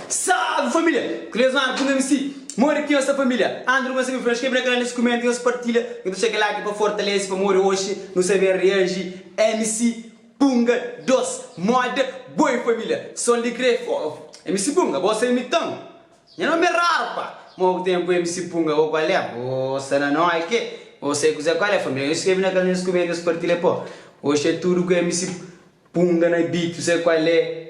Salve família! Kles mano ku msc Modi ki nhos sta família? Andru gosta mi fla nhos skrebe na kanal nhos kumenta nhos partilha nhos ta txega like pa fortalese pamodi oxi nu sta ben reaji msc Punga 2 moda boi família Sol di Grey fogo msc Punga bo sa imitan Nha nomi é raru pa Mo ku tenpu é mc punga Bo kual é Bo sta na noi ke Bo sai kuzé kual é família Nhos skrebe na kaminhu nhos kume nhos partilha po Oxi é tudu ku mc punga na beat tu sai kual é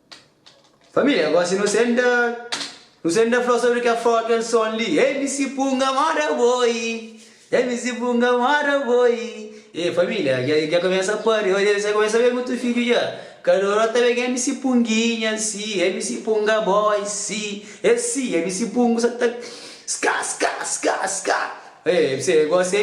Família, agora si nu senta Nu senta fla sobri kel froga kel son li Ei mi si punga mora boi Ei mi si punga mora boi Ei família, dja dja kumesa pâria Oi dja kumesa ben mutu fidju dja Kaloró ta ben Ei mi si punginha si Ei mi si punga boi si E si Ei mi si pungu sa ta Ska ska ska ska Ei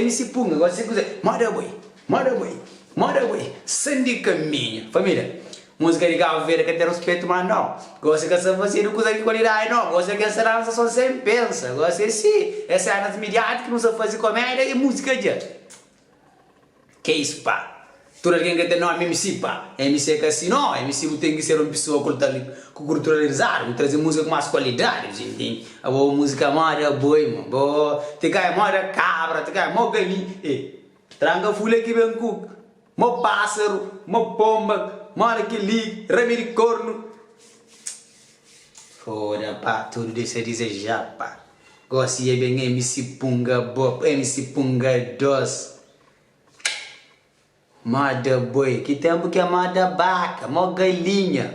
mi si punga Agora si kuze Mora boi Moda boi, moda boi, san di kaminha Família, múzika di Kabu Verde ka ten ruspetu má no Gosi ka sa fazedu kuza di kualidadi No gosi é kel sa lansa son sen pensa Gosi é si, é sénas midiátiku ki nu sa faze komédia y múzika dja Ke isu pa tudu algen ke ten nómi MC pa MC é ka si no MC bu ten ki ser un pesoa kultali ku kulturalizadu Bu traze múzika ku más kualidadi Djin djin Abo múzika moda boi ma bo Ti ka é moda kabra ti ka é mo galinha eh. Tranga fule ki ben ku mo pasaru, mo pomba, mora ki li, rame di kornu. Foda pa tudu dexa dize ja pa. Gosi e ben MC punga bo, MC punga dos. Moda boi, ki tempu ke moda baka, mo galinha.